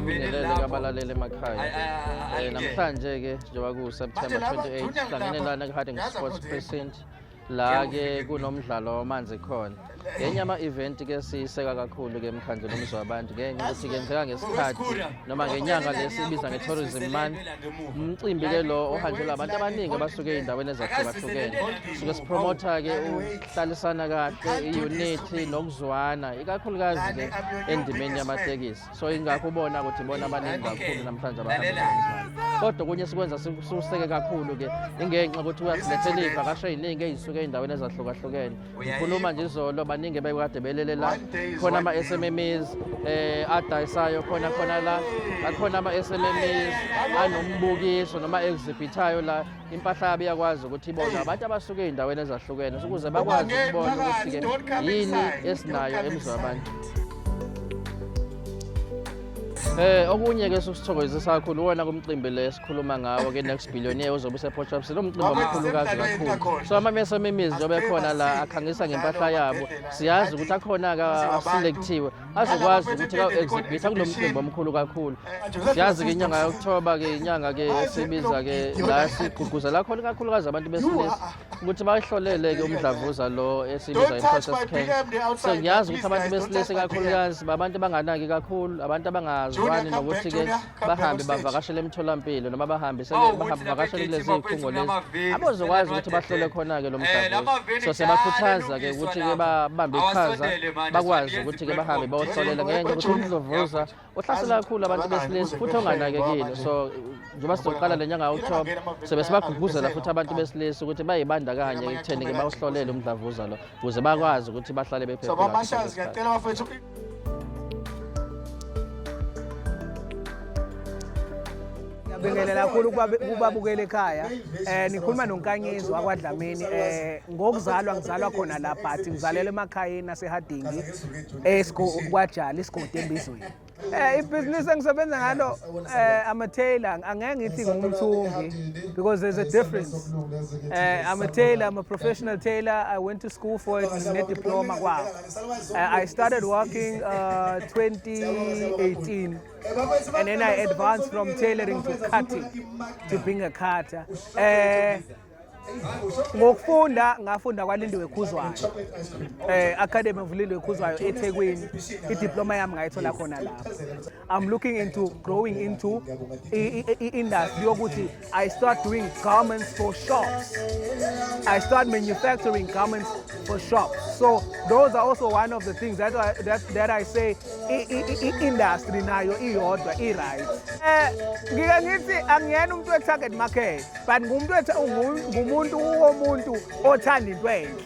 babingelele kabalalele emakhaya um namhlanje-ke njengoba kuwuseptemba 28 sihlangene lana kwi-harding sports precinct la ke kunomdlalo wamanzi khona ngenye ama-event ke siyiseka kakhulu ke emkhandlu nomzi wabantu ngenxa ukuthi kenzeka ngesikhathi noma ngenyanga le sibiza nge-tourism month umcimbi ke lo ohanjelwa abantu abaningi abasuke ey'ndaweni ezahlukahlukene suke sipromotha ke ukuhlalisana kahle i-unity nokuzwana ikakhulukazi ke endimeni yamatekisi so ingakho ubona ukuthi bona abaningi kakhulu namhlanje kodwa okunye sikwenza sikuseke kakhulu-ke ingenxa ukuthi uyasilethela iy'vakasho ey'ningi ey'suke ey'ndaweni ezahlukahlukene ngikhuluma nje izolo baningi bekade belele la khona ama-smmmies um eh, adayisayo khona khona la akhona ama-smmmies anombukiso noma exhibithayo la impahla yabo iyakwazi ukuthi ibonwe abantu abasuke ey'ndaweni ezahlukene ukuze bakwazi ukubona ukuthi-ke yini esinayo emizwa yabantu Eh okunye ke susithokozisa kakhulu wona kumcimbi le sikhuluma ngawo ke next billionaire ozobe useport shops lo mcimbi omkhulu kazi kakhulu so amamesa emimizi obe khona la akhangisa ngempahla yabo siyazi ukuthi akhona ka selectiwe azokwazi ukuthi ka-exhibitha kulo mcimbi omkhulu kakhulu siyazi ke inyanga yokuthoba ke inyanga ke esibiza ke la sigqugquzela khona ikakhulukazi abantu besilisa ukuthi bayihlolele ke umdlavuza lo esibiza i-process can so ngiyazi ukuthi abantu besilisa ikakhulukazi babantu abanganaki kakhulu abantu abangazwani nokuthi ke bahambe bavakashele emtholampilo noma bahambe bavakashele kulezi zikhungo lezi abozokwazi ukuthi bahlole khona-ke lo mdlavuza eh, so siyabakhuthaza-ke ukuthi-ke babambe iqhaza bakwazi ukuthi-ke bahambe bawohlolela ngenxa yokuthi umdlavuza uhlasela kakhulu abantu besilisa futhi onganakekile so njengoba sizoqala le nyanga october sobe sibagqugquzela futhi abantu besilisa ukuthi bayibandakanye ekutheni-ke bawuhlolele umdlavuza lo ukuze bakwazi ukuthi bahlale bephephile Ngibingelela kakhulu kubabukela ekhaya um nikhuluma nonkanyezi wakwadlamini um ngokuzalwa ngizalwa khona la but ngizalelwa emakhayeni asehadingi kwajali isigodi embizweni Eh ibhizinisi engisebenza ngalo eh I'm a tailor angeke ngithi ngumthungi because there's a difference. Eh I'm a tailor, I'm a professional tailor. I went to school for it ne diploma kwawo. I started working uh, 2018 and then I advanced from tailoring to cutting to being a cutter. Uh, ngokufunda ngafunda kwalindiwe khuzwayo eh academy of lindiwe khuzwayo ethekwini idiploma yami ngayithola khona lapho I'm looking into growing into industry yokuthi I start doing garments for shops. I start manufacturing garments for shops. So those are also one of the things that I, that, that I say industry nayo iyodwa i right. Eh ngike ngithi angiyena umuntu we target market but ngumuntu ngumuntu womuntu othanda into enhle.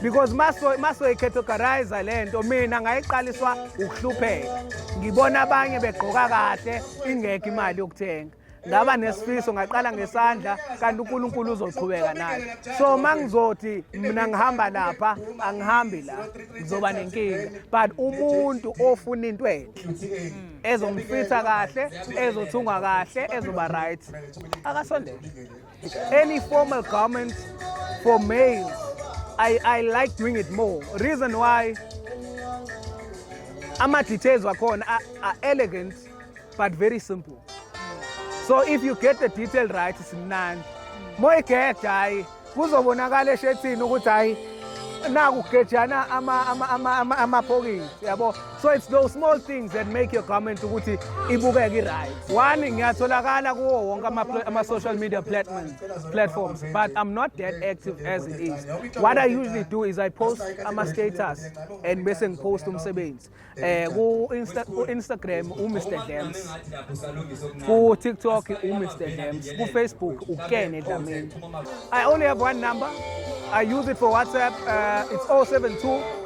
because masoyikhetho garayiza le nto mina ngayiqaliswa ukuhlupheka ngibona abanye begqoka kahle ingekho imali yokuthenga ngaba nesifiso ngaqala ngesandla kanti uNkulunkulu uzoqhubeka naye so mangizothi mina ngihamba lapha angihambi la ngizoba nenkinga but umuntu ofuna into enhle ezomfitha kahle ezothungwa kahle ezoba right akasondele Any formal garment for males, I, I like doing it more. Reason why ama-details wakhona are, are elegant but very simple. So if you get the detail right, simnandi. Moyigeda hayi kuzobonakala eshethini ukuthi hayi naku gejana ama ama ama ama, ama pocket yabo so it's those small things that make your comment ukuthi ibukeke right one ngiyatholakala kuwo wonke ama-social media platforms but i'm not that active as it is what i usually do is i post ama-status and bese ngipost umsebenzi eh, um ku-instagram umr dams ku-tiktok umr dams kufacebook ukene dlamini i only have one number i use it for whatsapp uh, it's 072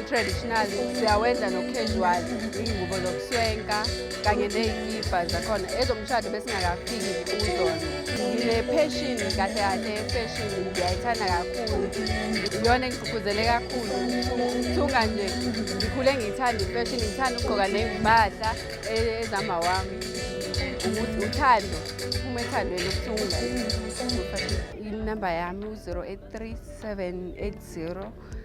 i-traditional siyawenza no-casual iy'ngubo zokuswenka kanye ney'kibha zakhona ezomshado besingakafiki kuzona ngine-passion kahle kahle ye-fashion ngiyayithanda kakhulu iyona engigqugquzele kakhulu ukuthunga nje ngikhule ngiyithanda i-fashion ngithanda ukugqoka ney'mpahla e-, ezama wami ukuthi uthando uma ethandweni ukuthunga inamba yami u-083 780